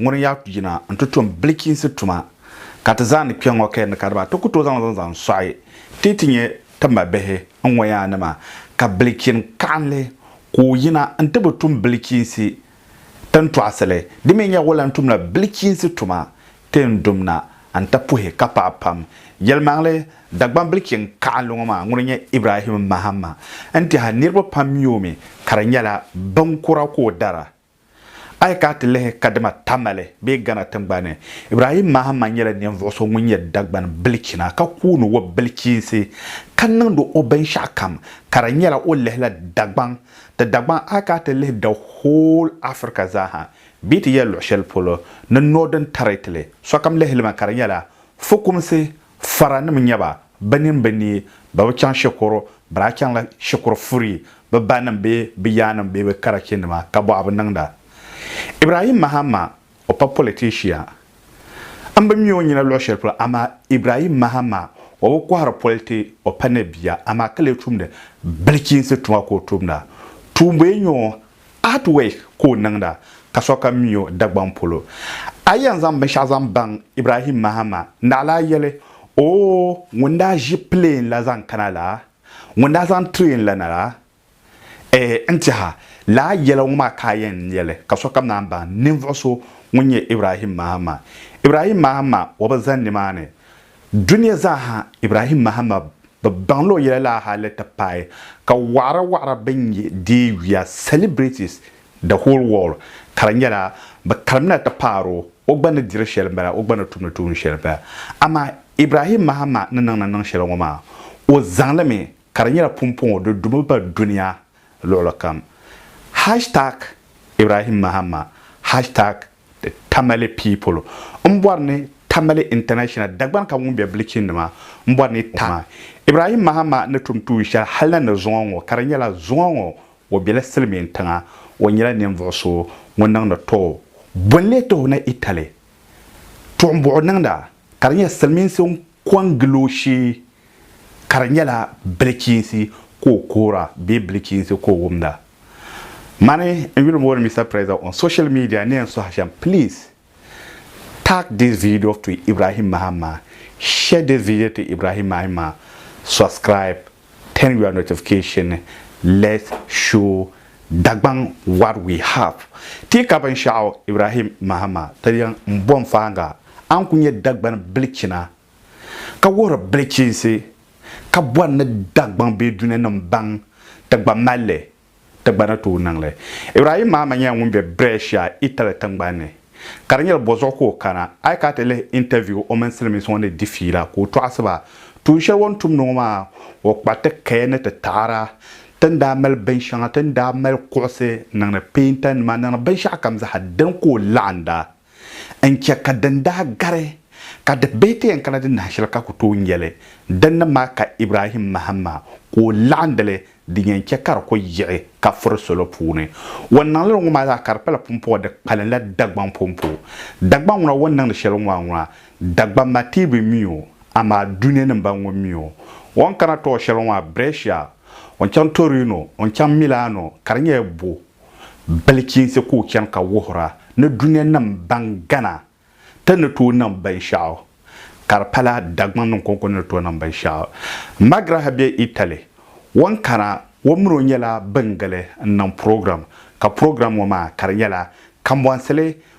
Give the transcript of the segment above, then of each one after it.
Ŋuni ya yina n-ti tum bilichiinsi tuma, ka ti zaa ni kpe ŋ-ŋɔ kaya ni kariba ti ku tooi zaŋ zaŋ zaŋ sɔɣi ti ti nyɛ ti mabihi n-ŋɔ yaa ni maa, ka bilichin kaɣinli ka o yina n-ti bi tum bilichiinsi ti ni tɔɣisili, di mi nya o lan tumla bilichiinsi tuma ti ni dum na n-ti puhi ka paɣi pam. Yɛlimaŋli, Dagbam bilichin kaɣinli ŋɔ maa ŋuni n-nyɛ Ibrahim Mahama n-tɛha niriba pam mi o mi ka di nyɛla binkura ka o dara. A yi kana ti lihi kadama Tamale bee Ghana tiŋgbani ni, Ibrahim Mahama nyɛla ninvuɣu so ŋun nyɛ Dagbani bilichina ka kooni o bilichiinsi ka niŋdi o binshɛɣu kam ka di nyɛla o lihila Dagbaŋ ti Dagbaŋ a yi kana ti lihi the whole Africa zaaha bee ti yɛli luɣushɛli polo ni Northern Territory sokam lihili mi ka di nyɛla fukumsi Faranim nyɛ ba, bɛ nini bi neei, bɛ bi chaŋ shikuru, bɛ daa chaŋla shikuru furi bɛ banim bee bɛ yaannim bee bɛ karachinima ka bɔɣi bi niŋda. Ibrahim Mahama, o pa politishia. M bi mi o nyina luɣ shɛli polo, amaa Ibrahim Mahama, o bi kɔhiri politi, o pa ni bia, amaa ka lee tumdi bilichiinsi tuma ka o tumda. Tuumbuya nyɛ o, Art work ka o niŋda ka sokam mi o Dagbaŋ polo. A yi yɛn zaŋ binshɛɣu zaŋ baŋ Ibrahim Mahama, naɣila a yɛli, Oo, ŋun daa ʒi plane la zaŋ kana la, ŋun daa zaŋ train la na la? Ɛɛh, n tɛha, lala yɛla ŋɔ maa ka a yɛn yɛli ka sokam naan baŋ ninvuɣ so ŋun nyɛ Ibrahim Mahama. Ibrahim Mahama o bi zani nimaani Dunia zaaha Ibrahim Mahama bi baŋ la o yɛla la hali ti paai ka waɣira waɣira bɛn nyɛ deei yuya, celebrities, the whole world ka di nyɛla bɛ karimina ti paari o, o gba ni diri shɛli m-bala, o gba ni tumdi tuun shɛli m-bala. Amaa Ibrahim Mahama ni niŋ ni niŋ shɛli ŋɔ maa, o zaŋ li mi ka di nyɛla pumpɔŋɔ di dumi ba dunia luɣilikam. Hashtag Ibrahim Mahama, hashtag The Tamale people n bɔri ni Tamale International Dagbani ka ŋun bɛ Bleaching nima n bɔri ni ta maa. Ibrahim Mahama ni tum tuun shɛli hali na ni zuŋɔ ŋɔ ka di nyɛla zuŋɔ ŋɔ o bɛla silimiin tiŋa o nyɛla ninvuɣu so ŋun niŋdi too bolli tuhi ni Italy tuɣimbuɣu niŋda ka di nyɛ silimiinsi Ko n gili o shee, ka di nyɛla bilichiinsi ka o koora bee bilichiinsi ka o wumda. Mani n yuli mooni Mister Preza on social media ni yɛn sohi shɛm please tag this video to Ibrahim Mahama, share this video to Ibrahim Mahima, subscribe Turn your notification Let's show Dagbaŋ what we have Ti ka binshɛɣu Ibrahim Mahama ti yiŋ m-bo m-faaŋa a ni ku nyɛ Dagbani bilichina ka wuhiri bilichinsi ka bɔri ni Dagbaŋ bee Dunianim baŋ ti gba mali li Ti gba ni tooi niŋ li. Ibrahim Mahama nyɛla ŋun be Brescia, Italy tingbani ni. Ka di nyɛla bozuɣu ka o kana. A yi kana ti lihi interview o mini Silimiinsi ŋɔ ni di fiila ka o tɔɣisi ba. Tuun shɛli o ni tumdi ŋɔ maa, o kpariti kaya ni ti taɣira. Ti ni daa mali binshɛŋa, ti ni daa mali kuɣisi, niŋdi peentanima, niŋdi binshɛɣukam zaa, dini ka o laɣinda. n-chɛ ka din daa gari ka di bihi ti yɛn kana di nahi shɛli ka ku tooi nya li. Dinni maa ka Ibrahim mahim ma ka o laɣindi li din yɛn chɛ ka di ku yiɣi ka furi salo puuni. O ni niŋ li ŋɔ maa zaa ka di pala pumpɔŋɔ di kpalinla Dagbaŋ pumpu. Dagbaŋ ŋuna o ni niŋdi shɛli ŋɔ maa ŋuna, Dagbaŋ matihi bi mi o, amaa Dunia nim bani ŋɔ mi o. O ni kana tooi shɛli ŋɔ maa, Brescia, o ni chaŋ Torino, o ni chaŋ Milano ka di nyɛla bɔ? Bilichiinsi ka o chani ka wuhira ni dunia nim ban gana ti ni tooi niŋ binshɛɣu, ka di pala Dagbaŋ niŋ kɔŋko ni ni tooi niŋ binshɛɣu. Magraha be Italy. O ni kana, o min o nyɛla bin gili n-niŋ program, ka program ŋɔ maa ka di nyɛla kambɔnsili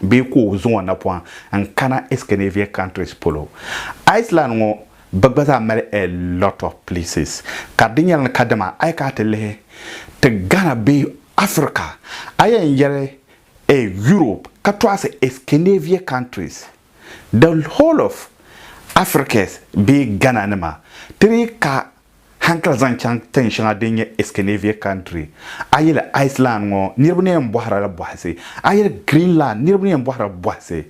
bee ka o zaŋ o napɔŋ n-kana Iscandinavia countries polo. Iceland ŋɔ bɛ gba zaa mali a lot of places ka di nyɛla ni kadama a yi kana ti lihi ti Ghana bee Africa a yɛn yɛli a Europe ka tɔɣisi Iscandinavia countries the whole of Africas bee Ghana nima ti dii ka Hankali zaŋ chaŋ tin shɛŋa din nyɛ Iskanavia Country, a yili Iceland ŋɔ niriba ni yɛn bɔhira la bɔhisi, a yili Greenland niriba ni yɛn bɔhira bɔhisi.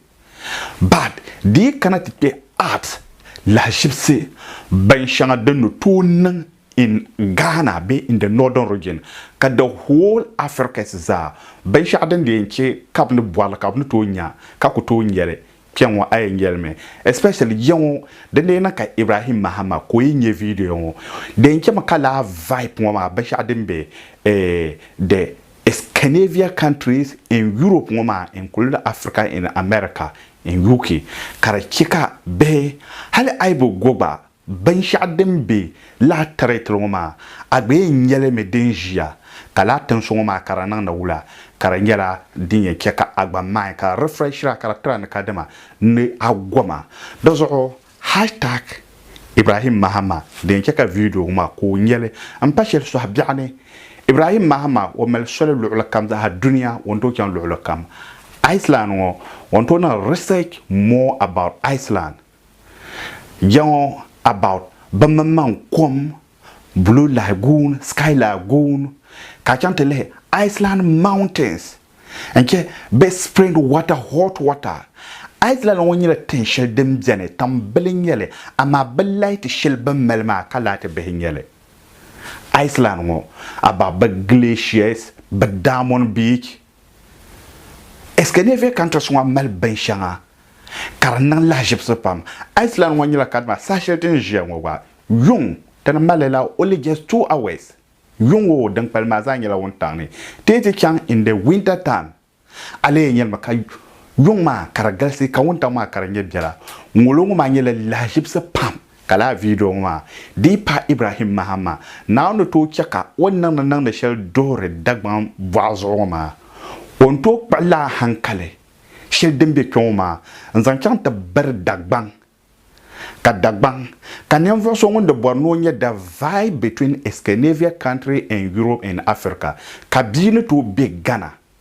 But di yi kana ti kpe art lahiʒibisi bin shɛŋa din ni tooi niŋ in Ghana bee in the Northern region ka the whole Africas zaa binshɛɣu din di yɛn che ka bɛ ni bɔri li ka bɛ ni tooi nya ka ku tooi nyeli Kpɛŋɔ a yɛn yɛlimi especially ya ŋɔ din dii niŋ ka Ibrahim Mahama ka o yi nyɛ video ŋɔ di yɛn chɛmi ka laa vibe ŋɔ maa binshɛɣu din be the Scandinavia countries in Europe ŋɔ maa including Africa in America in UK ka di chɛ ka bihi hali a yi bi go gba Binshɛɣu din be lala tɛritiri ŋɔ maa, a gba yɛn nya li mi din ʒiya, ka lala tinsi ŋɔ maa ka di niŋdi wula, ka di nyɛla din yɛn chɛ ka a gba maai ka di refreshiri a ka di tira ni kadama ni a goma. Di zuɣu hashtag Ibrahim Mahama di yɛn chɛ ka viidiyo ŋɔ maa ka o nya li m-pa shɛli sɔhi biɛɣu ni. Ibrahim Mahama o mali soli luɣili kam zaaha dunia o ni tooi chaŋ luɣili kam. Iceland ŋɔ o ni tooi niŋ research more about Iceland. Jaŋɔ about bɛ mini man kom, Blue Lagoon, Sky Lagoon, ka a chaŋ ti lihi Iceland mountains n-chɛ bɛ spring water, hot water. Iceland ŋɔ nyɛla tin shɛli din beni, tam bili n-nyɛ li, amaa bɛ laati shɛli bɛ mali maa ka laati bihi n-nyɛ li. Iceland ŋɔ about bɛ glaciers, bɛ Dammon Beach, Escandinavia countries ŋɔ mali binshɛŋa ka di niŋ lahaʒibisi pam. Iceland ŋɔ nyɛla kadama saha shɛli din ʒiya ŋɔ gba yuŋ dini mali la only just two hours. Yuŋ ŋɔ din kpalim maa zaa nyɛla wuntaŋ ni teei ti chaŋ in the winter time. A leei nyɛlimi ka yuŋ maa ka di galisi ka wuntaŋ maa ka di nyɛ biɛla. Ŋolo ŋɔ maa nyɛla lahaʒibisi pam. Ka lala vidio ŋɔ maa dii paai Ibrahim Mahama, Naawuni ni tooi chɛ ka o niŋdi niŋdi shɛli duhiri Dagbaŋ bɔɣu zuɣu ŋɔ maa, o ni tooi kpuɣi lala hankali shɛli din be kpe ŋɔ maa n-zaŋ chaŋ ti biri Dagbaŋ. Ka Dagbaŋ, ka ninvuɣ so ŋun di bɔri ni o nya the vibe between Escanavia country and Europe and Africa, ka bia ni tooi be Ghana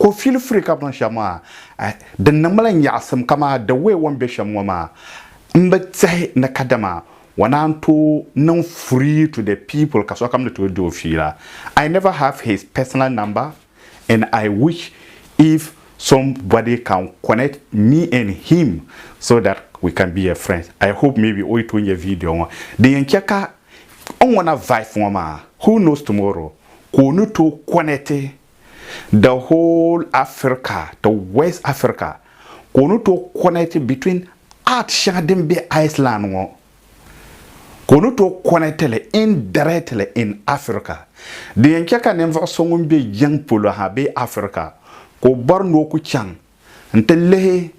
Ka o fili firi ka bin shɛm maa eh, din niŋmila nyaɣisim kamaa the way o ni be shɛm ŋɔ maa, m bi tehi ni kadama o naan tooi niŋ furi to the people ka sokam ni tooi di o fiila. I never have his personal number and I wish if some body can connect me and him so that we can be a friends. I hope maybe o yi tooi nya video ŋɔ. Din yɛn che ka n ŋuna vibe ŋɔ maa, who knows tomorrow ka o ni tooi connect the whole Africa to West Africa ka o ni tooi connect between art shɛŋa din be Iceland ŋɔ ka o ni tooi connect li indirectly in Africa. Di yɛn chɛ ka ninvuɣ so ŋun be yiŋ polo ha bee Africa ka o bɔri ni o ku chaŋ nti lihi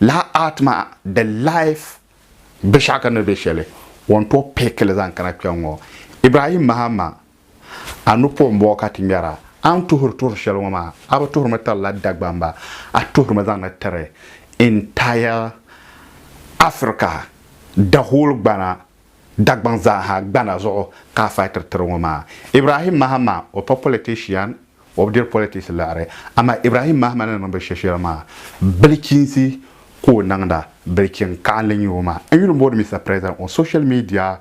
lala art maa di life biɛshɛɣu ka ni be shɛli o ni tooi pick li zaŋ kana kpɛŋ ŋɔ. Ibrahim Mahama. A ni po m-bɔɔ ka ti ŋmɛra? A ni tuhiri tuhiri shɛli ŋɔ maa, a bi tuhirimi tirila Dagbamba, a tuhirimi zaŋdi tiri entire Africa, the whole Gbana, Dagbaŋ zaaha, Gbana zuɣu ka a fightiri tiri ŋɔ maa. Ibrahim Mahama, o pa politician, o bi diri politics liɣiri, amaa Ibrahim Mahama ni niŋ binshɛli shɛli maa, bilichinsi ka o niŋda, bilichin kaɣinli n-nyɛ o maa. N yuli m-booni Mister President on social media